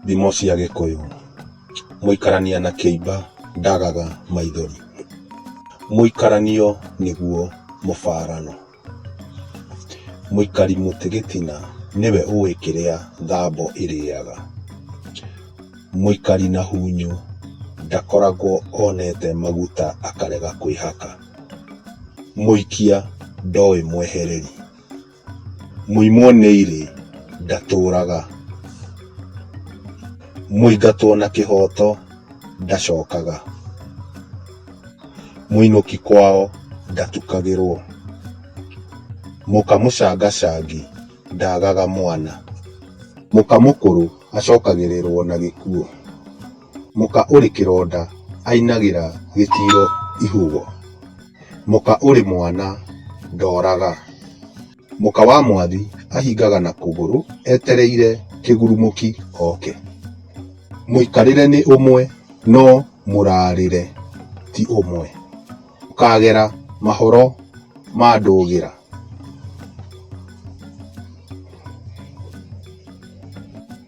Thimo cia Gĩkũyũ. Mũikarania na kĩimba ndagaga maithori. Mũikaranio nĩguo mũbarano. Mũikari mũtĩ gĩtina nĩwe ũĩ kĩrĩa thambo ĩrĩaga. Mũikari na hunyu ndakoragwo onete maguta akarega kwĩhaka. Mũikia ndoĩ mwehereri. Mũimwo nĩ irĩ ndatũũraga. Mũingatwo na kĩhooto ndacokaga. Mũinũki kwao ndatukagĩrwo. Mũka mũcangacangi ndaagaga mwana. Mũka mũkũrũ acokagĩrĩrwo na gĩkuũ. Mũka ũrĩ kĩronda ainagĩra gĩtiiro ihũgũ. Mũka ũrĩ mwana ndooraga. Mũka wa mwathi ahingaga na kũgũrũ etereire kĩgurumũki oke. Mũikarĩre nĩ ũmwe no mũrarĩre ti ũmwe. Ũkagera mahoro ma ndũgĩra.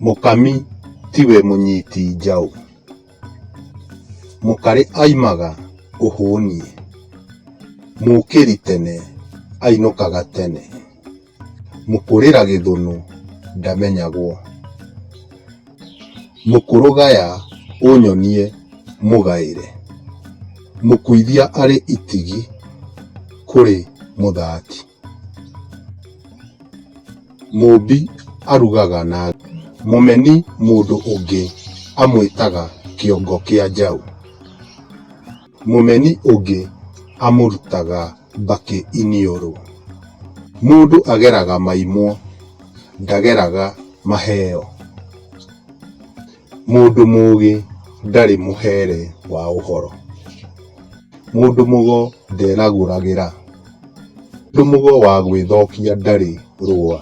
Mũkami tiwe mũnyiti njaũ. Mũkarĩ aimaga ũhũni, mũkĩri tene ainũkaga tene, mũkũrĩra gĩthũnũ ndamenyagwo, mũkũrũgaya ũnyonie mũgaĩre, mũkuithia arĩ itigi kũrĩ mũthati. Mũũmbi arugaga na ngũ. Mũmeni mũndũ ũngĩ amwĩtaga kĩongo kĩa njaũ. Mũmeni ũngĩ amũrutaga mbakĩ iniũrũ. Mũndũ ageraga maimwo, ndageraga maheo. Mũndũ mũũgĩ ndarĩ mũhere wa ũhoro. Mũndũ mũgo nderagũragĩra. Mũndũ mũgo wa gwĩthokia ndarĩ rũa.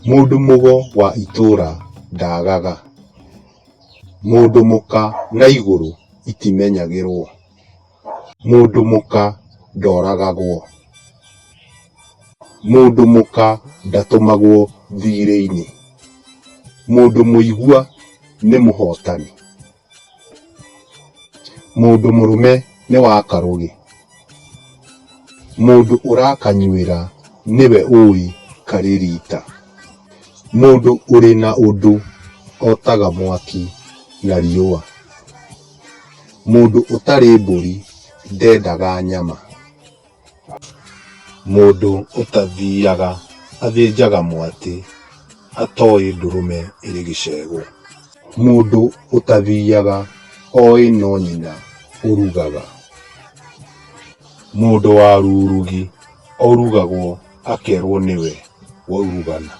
Mũndũ mũgo wa itũũra ndaagaga. Mũndũ mũka na igũrũ itimenyagĩrwo. Mũndũ mũka ndoragagwo. Mũndũ mũka ndatũmagwo thiirĩ-inĩ. Mũndũ mũigua nĩ mũhootani. Mũndũ mũrũme nĩ wa karũgĩ. Mũndũ ũrakanyuĩra nĩwe ũũĩ karĩ riita. Mũndũ ũrĩ na ũndũ ootaga mwaki na riũa. Mũndũ ũtarĩ mbũri ndendaga nyama. Mũndũ ũtathiaga athĩnjaga mwatĩ atoĩ ndũrũme ĩrĩ gĩcegũ. Mũndũ ũtathiaga oĩ no nyina ũrugaga. Mũndũ wa rurugi orugagwo. akerwo nĩwe waurugana.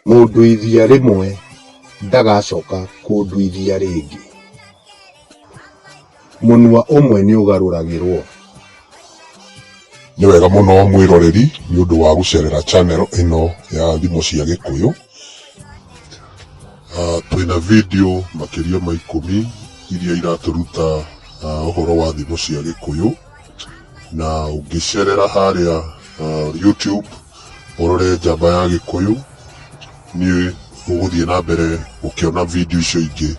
Mũnduithia rĩmwe ndagacoka kũnduithia rĩngĩ. Mũnwa ũmwe nĩũgarũragĩrwo. Nĩ wega mũno mwĩroreri nĩ ũndũ wa gũcerera channel ĩno ya Thimo cia Gĩkũyũ. Twĩna video makĩria ma ikũmi iria iratũruta ũhoro wa thimo cia Gĩkũyũ. na ũngĩcerera harĩa uh, YouTube ũrore njamba ya gĩkũyũ nĩ ũgũthiĩ na mbere ũkĩona video icio ingĩ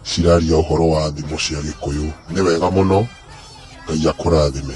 ciraria ũhoro wa thimo cia gĩkũyũ nĩ wega mũno ngai akũrathime